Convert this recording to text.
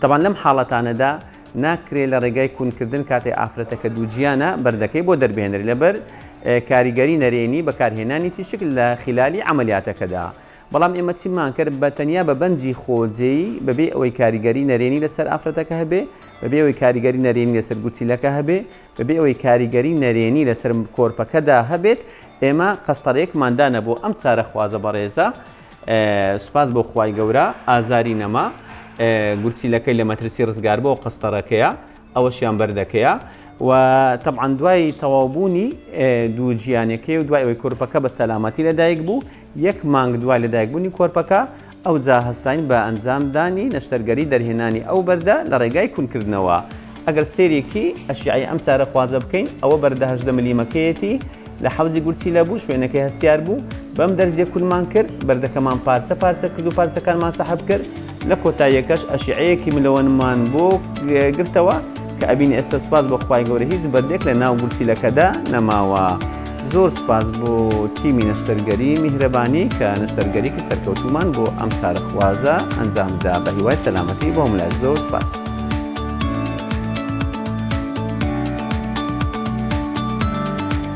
تەبان لەم حاڵەتانەدا ناکرێ لە ڕێگای کونکردن کاتێ ئافرەتەکە دووجیانە بەردەکەی بۆ دەربێنرێ لەبەر کاریگەری نەرێنی بەکارهێنانی تیشک لە خیلالی عەمەلیاتەکەدا بەڵام ئێمە چیمان کرد بە تەنیا بە بەنجی خۆجێی بەبێ ئەوەی کاریگەری نەرێنی لەسەر ئافرەتەکە هەبێ بەبێ ئەوەی کاریگەری نەرێنی لەسەر گورچیلەکە هەبێ بەبێ ئەوەی کاریگەری نەرێنی لەسەر کۆرپەکەدا هەبێت، ئێمە قەستەرەیەکمان دانە بۆ ئەم چارەخوازە بەڕێزە، سوپاس بۆ خوای گەورە ئازاری نەما، گورچیلەکەی لە مەترسی ڕزگاربووە و قەستەرەکەیە ئەوەشیان بەردەکەیە و تەبعەن دوای تەواوبوونی دوو جییانەکەی و دوای ئەوەی کۆرپەکە بە سەلامەتی لەدایک بوو، یەک مانگ دوای لەدایکبوونی کۆرپەکە، ئەوجا هەستاین بە ئەنجامدانی نەشتەرگەری دەرهێنانی ئەو بەردە لە ڕێگای کونکردنەوە. ئەگەر سەیرێکی ئەشیعەی ئەم چارەخوازە بکەین، ئەوە بەردە هەژدە ملیمەکەیەتی لە حەوزی گورچیلە بوو، شوێنەکەی هەستیار بوو، بەم دەرزییە کونمان کرد، بەردەکەمان پارچە پارچە کرد و پارچەکانمان سەحب کرد، لە کۆتاییەکەش ئەشیعەیەکی ملۆنمان بۆ گرتەوە کە ئەبینی ئێستا سوپاس بۆ خوای گەورە هیچ بەردێک لە ناو گورچیلەکەدا نەماوە زۆر سوپاس بۆ تیمی نەشتەرگەری میهرەبانی کە نەشتەرگەریکی سەرکەوتومان بۆ ئەم چارەخوازە ئەنجامدا بە هیوای سەلامەتی بۆ هەموولایەک زۆر سوپاس.